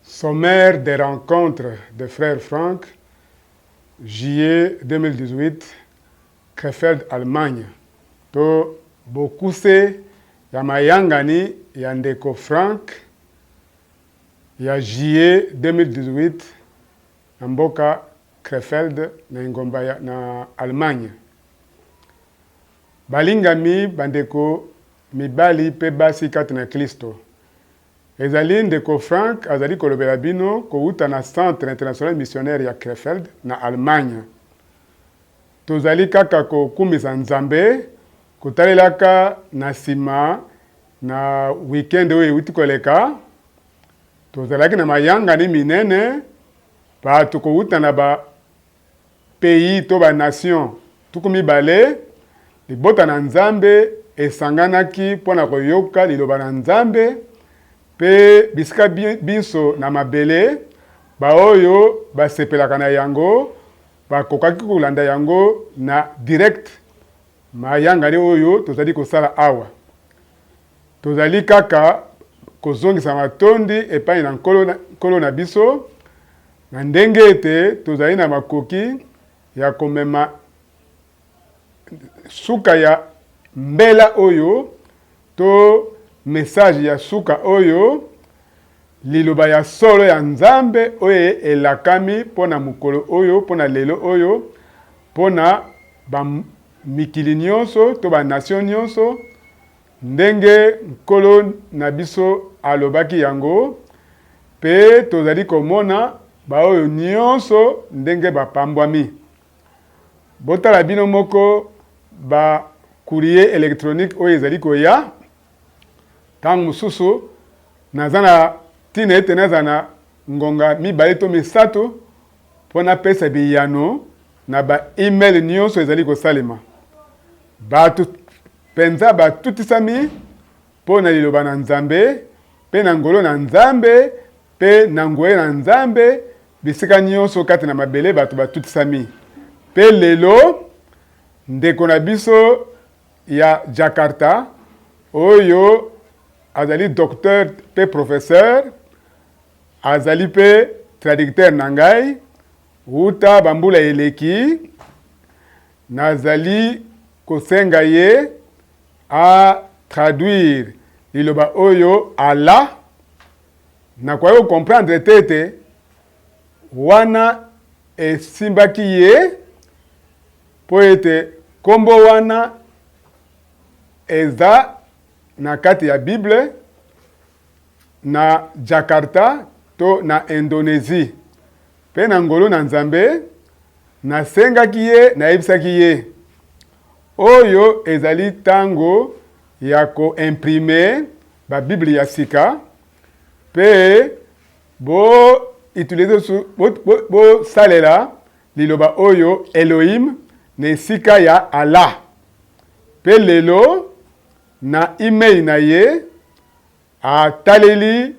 Sommaire des rencontres des frères Franck, juillet 2018, Krefeld, Allemagne, to bokuse ya mayangani ya ndeko Franck ya juillet 2018 na mboka Krefeld na engomba ya, na Allemagne. Balingami bandeko Mibali pe basi kati na Klisto. Ezali Ndeko Frank azali kolobela bino kowuta na Centre International Missionnaire ya Krefeld, na Allemagne. Tozali kaka kokumisa Nzambe, kotalelaka na sima na week-end oyo ewuti koleka. Tozalaki na mayangani minene, bato kowuta na ba. Pays to ba nations tuku mibale, libota na Nzambe esanganaki mpo na koyoka liloba na Nzambe, mpe bisika binso na mabele, baoyo basepelaka na yango bakokaki kolanda yango na direct. Mayangani oyo tozali kosala awa Tozali kaka kozongisa matondi epai na Nkolo, Nkolo na biso, na ndenge ete tozali na makoki ya komema suka ya mbela oyo to message ya suka oyo, liloba ya solo ya Nzambe oyo elakami mpo na mokolo oyo, mpo na lelo oyo, mpo na mikili nyonso to ba nation nyonso. Ndenge Nkolo na biso alobaki yango, pe tozali komona baoyo nyonso ndenge bapambwami. Botala bino moko ba-courrier electronique oyo ezali koya. Ntango mosusu naza na ntina ete nazala na ngonga mibale to misato, Mpo napesa biyano na ba e-mail nyonso ezali kosalema, bato mpenza batutisami mpo na Liloba na Nzambe mpe na ngolo na Nzambe mpe na nguya na Nzambe bisika nyonso kati na mabele. Bato batutisami. Mpe lelo, ndeko na biso ya Jakarta oyo azali docteur mpe professeur Azali mpe traducteur na ngai wuta bambula eleki. Nazali kosenga ye a traduire liloba oyo Allah. Nakoki ko comprendre te ete wana esimbaki ye mpo ete nkombo wana eza na kati ya Bible. na Jakarta to na Indonesie, mpe na ngolu na Nzambe, nasengaki ye, nayebisaki ye, oyo ezali ntango ya koimprime Babiblia ya sika, mpe bo utilize bosalela bo, bo liloba oyo Elohim na esika ya Allah. Mpe lelo Na imei na ye, ataleli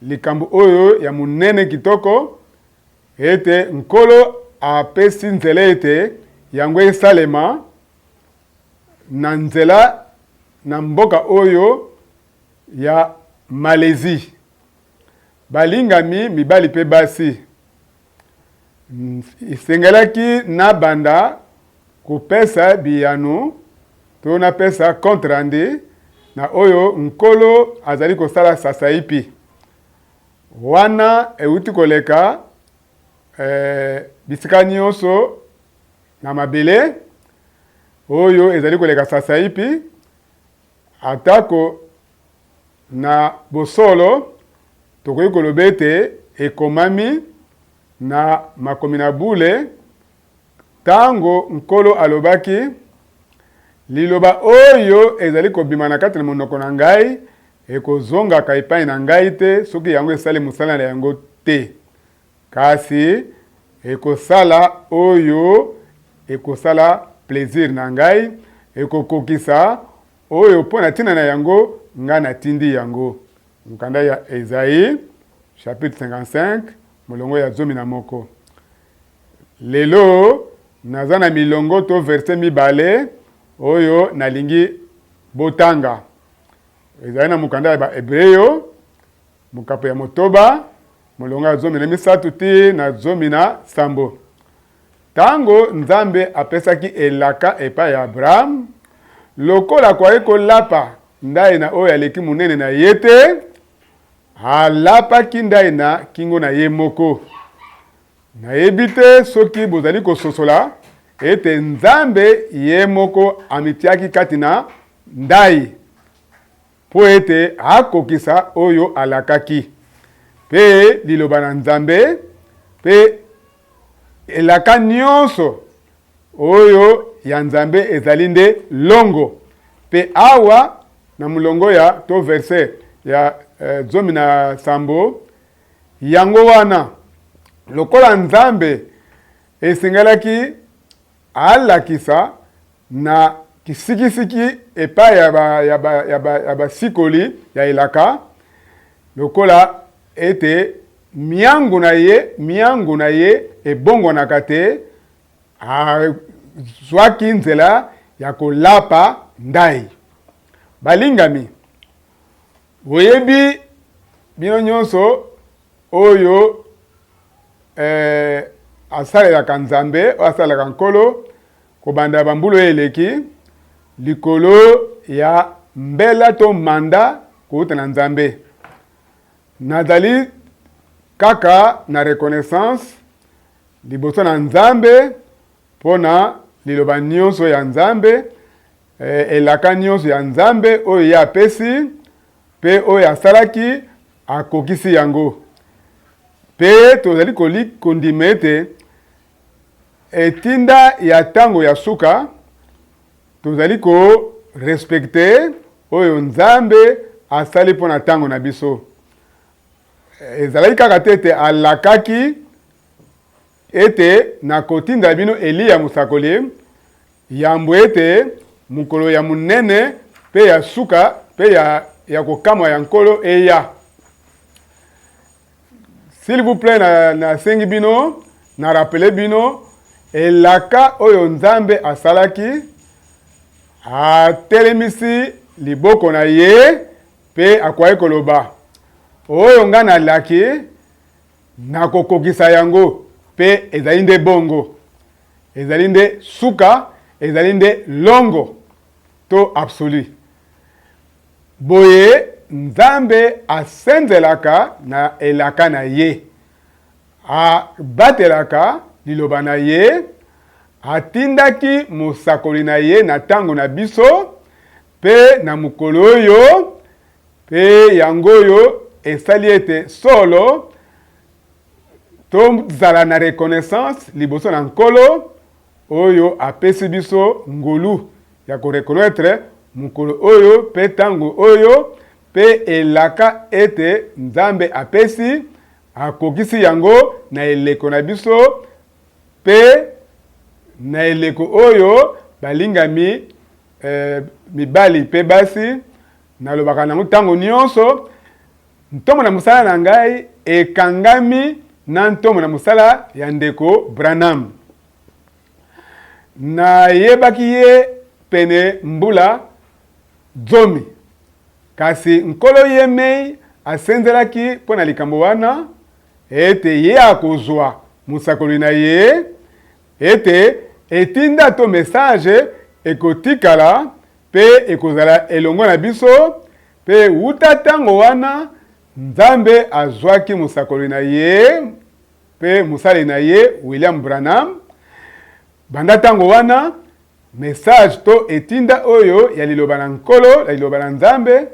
likambo oyo ya monene kitoko, ete Nkolo apesi nzela ete yango esalema na nzela na mboka oyo ya Malaisie. Balingami mibali mpe basi, Esengelaki nabanda kopesa biyano to napesa compte rendu na oyo nkolo azali kosala sasaipi. Wana euti koleka eh, bisika nyonso na mabele oyo ezali koleka sasaipi, atako Na bosolo, tokoki koloba ete ekomami na makomi na bule ntango Nkolo alobaki, Liloba oyo ezali kobima na kati na monoko na ngai ekozongaka epai na ngai te soki yango esali mosala na yango te, kasi ekosala oyo ekosala plezire na ngai, ekokokisa Oyo mpo na ntina na yango ngai natindi yango. Mokanda ya Ezayi, chapitre 55, molongo ya zomi na moko. Lelo naza na milongo to verse mibale oyo nalingi botanga. Ezali na mokanda ya Baebreo, mokapo ya motoba, molongo ya zomi na misato ti na zomi na sambo. Ntango Nzambe apesaki elaka epai ya Abrahame, lokola akwaki kolapa ndai na oyo aleki monene na ye te, alapaki ndai na kingo na ye moko. Nayebi te soki bozali kososola ete Nzambe ye moko amitiaki kati na ndai. Mpo ete akokisa oyo alakaki. Mpe Liloba na Nzambe, mpe elaka nyonso oyo ya Nzambe ezali nde longo. Mpe awa, na molongo ya to verse ya eh, zomi na sambo, yango wana lokola Nzambe esengelaki Alakisa na kisikisiki epai ya ba, ya ba, ya ba, ya basikoli ya elaka lokola ete miango na ye miango na ye ebongwanaka te, azwaki nzela ya kolapa ndai. Balingami, Boyebi bino nyonso oyo eh, asalelaka Nzambe, oyo asalelaka Nkolo kobanda bambula oyo eleki likolo ya mbela to manda kouta na Nzambe. Nazali kaka na reconnaissance liboso na Nzambe mpo na liloba nyonso ya Nzambe Eh, elaka nyonso ya Nzambe oyo ye apesi mpe oyo asalaki akokisi yango. Mpe tozali kondima ete etinda ya ntango ya suka tozali korespekte oyo Nzambe asali mpo na ntango na biso. Ezalaki kaka te ete alakaki Ete nakotinda bino Eliya mosakoli, yambo ete mokolo ya monene mpe ya suka mpe ya, ya kokamwa ya Nkolo eya. S'il vous plaît, nasengi na bino na rapele bino elaka oyo Nzambe asalaki, atelemisi liboko na ye mpe akwai koloba, oyo ngai nalaki Na kokokisa yango. Pe ezali nde bongo. Ezali nde suka, ezali nde longo, to absolu. Boye, Nzambe asenzelaka na elaka na Ye. Abatelaka Liloba na Ye. Atindaki mosakoli na Ye na ntango na biso, pe na mokolo oyo, Mpe yango oyo esali ete solo tozala na reconnaissance liboso na Nkolo oyo apesi biso ngolu ya koreconnaitre mokolo oyo mpe ntango oyo mpe elaka ete Nzambe apesi akokisi yango na eleko na biso mpe na eleko oyo balingami eh, mibali mpe basi Nalobaka na yango ntango nyonso, ntomo na mosala na ngai ekangami na ntomo na mosala ya ndeko Branham. Nayebaki ye pene mbula zomi, kasi Nkolo ye mei asenzelaki mpo na likambo wana ete ye akozwa mosakoli na ye Ete etinda to message ekotikala mpe ekozala elongo na biso, mpe uta ntango wana Nzambe azwaki mosakoli na ye mpe mosali na ye William Branham. Banda ntango wana message to etinda oyo ya liloba na Nkolo, ya liloba na Nzambe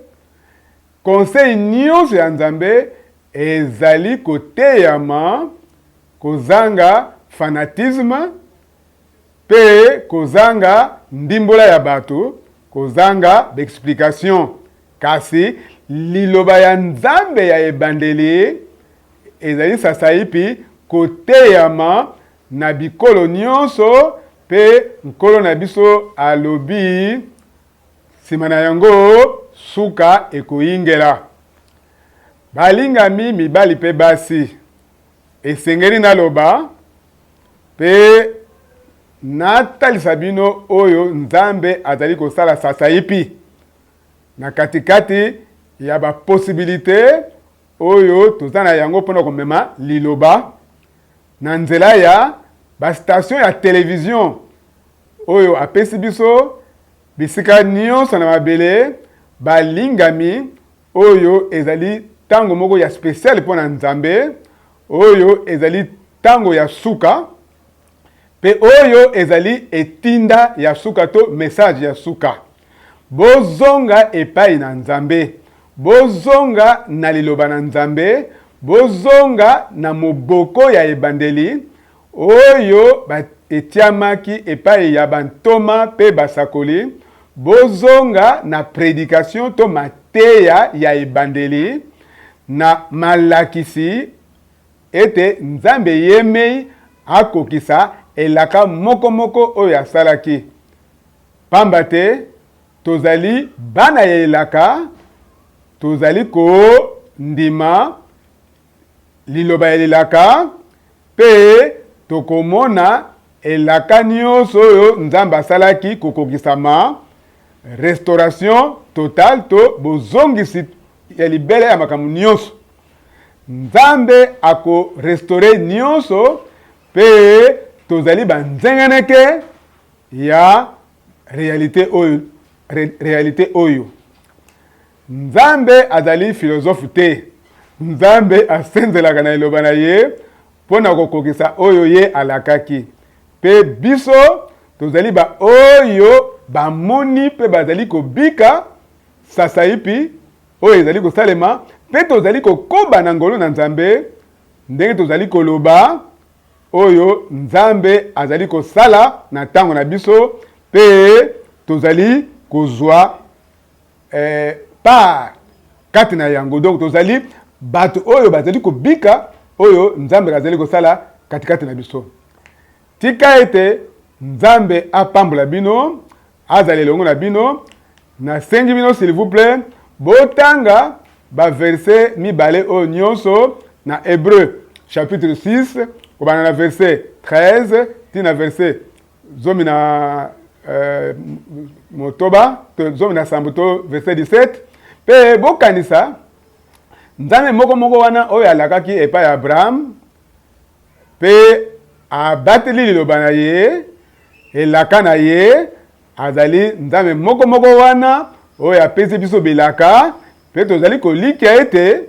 Conseil nyonso ya Nzambe ezali koteyama kozanga fanatisme mpe kozanga ndimbola ya bato, kozanga b'explications. Kasi Liloba ya Nzambe ya ebandeli ezali sasaipi koteyama na bikolo nyonso, mpe Nkolo na biso alobi, Nsima na yango, suka ekoingela. Balingami mibali mpe basi, esengeli naloba mpe natalisa bino oyo Nzambe azali kosala sasaipi na katikati ya baposibilite oyo toza na yango mpona komema liloba na nzela ya bastation ya televizio oyo apesi biso bisika nyonso na mabele, balingami, oyo ezali ntango moko ya speciale mpo na Nzambe, oyo ezali ntango ya suka, mpe oyo ezali etinda ya suka to message ya suka. Bozonga epai na Nzambe, bozonga na Liloba na Nzambe, bozonga na moboko ya ebandeli, Oyo ba etiamaki epai ya ba ntoma pe basakoli, bozonga na predication to mateya ya ebandeli, na malakisi ete Nzambe yemei akokisa elaka moko moko oyo asalaki. Pamba te tozali bana ya elaka, tozali ko ndima liloba ya lilaka mpe tokomona elaka nyonso oyo Nzambe asalaki kokokisama, restauration totale to bozongisi ya libela ya makambo nyonso. Nzambe akorestore nyonso mpe tozali banzengeneke ya realite oyo, realite oyo. Nzambe azali filozofe te. Nzambe asenzelaka na Liloba na ye mpo na kokokisa oyo ye alakaki. Mpe biso tozali baoyo bamoni mpe bazali kobika sasaipi oyo ezali kosalema, mpe tozali kokoba na ngolu na Nzambe ndenge tozali koloba oyo Nzambe azali kosala na ntango na biso mpe tozali kozwa eh, part kati na yango. Donc tozali bato oyo bazali kobika, oyo Nzambe azali kosala katikati na biso. Tika ete Nzambe apambola bino, azala elongo na bino. Nasengi bino s'il vous plaît, botanga baverse mibale oyo nyonso na Hebreu chapitre 6 kobanda na verse 13 ti na verse zomi na eh, motoba to zomi na sambo to verset 17 mpe bokanisa nzambe moko moko wana oyo alakaki epai ya abraham mpe abateli liloba na ye elaka na ye azali nzambe moko moko wana oyo apesi biso bilaka mpe tozali kolikya ete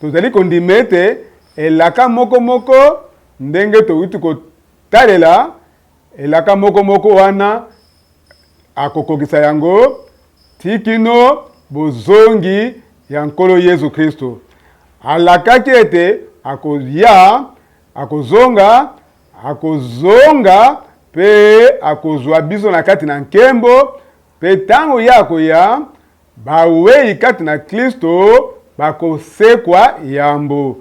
tozali kondima ete elaka moko moko ndenge towuti Talela elaka moko moko wana akokokisa yango ti kino bozongi ya Nkolo Yezu Kristo. Alakaki ete akoya, akozonga, akozonga pe akozwa biso na kati na nkembo, pe tango ye akoya, bawei kati na Kristo bakosekwa yambo.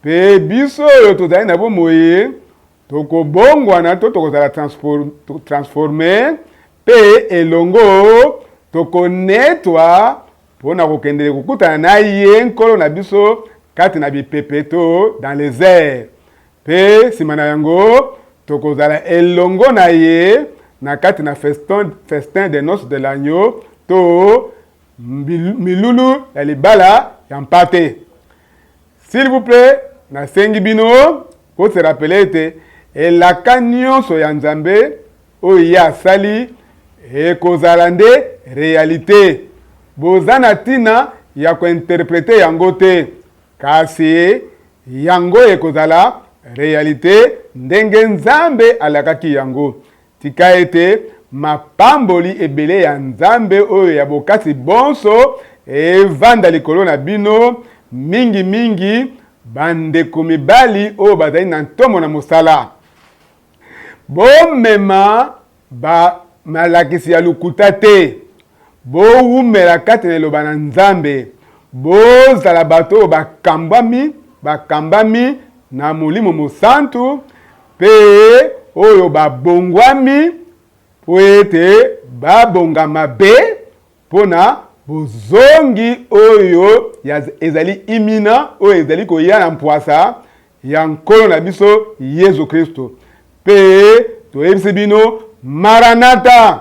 Mpe biso oyo tozali na bomoi tokobongwana to tokozala transforme mpe elongo tokonetwa mpo na kokendele kokutana na ye nkolo na biso kati na bipepeto dans les airs mpe nsima na yango tokozala elongo na ye na kati na festin, festin de noce de l'agneau to Milulu ya libala ya mpate. S'il vous plait, nasengi bino ko se rappeler ete elaka nyonso ya Nzambe oyo ye asali ekozala nde realite. Boza na ntina ya kointerprete yango te, kasi yango ekozala realite ndenge Nzambe alakaki yango. Tika ete mapamboli ebele ya Nzambe oyo ya bokasi bonso evanda likolo na bino, mingi mingi bandeko mibali oyo bazali na ntomo na mosala. Bomema ba malakisi ya lokuta te Bowumela kati na Liloba na Nzambe. Bozala bato oyo bakambwami, bakambami na Molimo Mosantu, mpe oyo babongwami mpo ete babongama be mpo na bozongi oyo ya, ezali imina, oyo ezali koya na mpwasa ya Nkolo na biso Yesu Kristo. Mpe toyebisi bino, Maranata!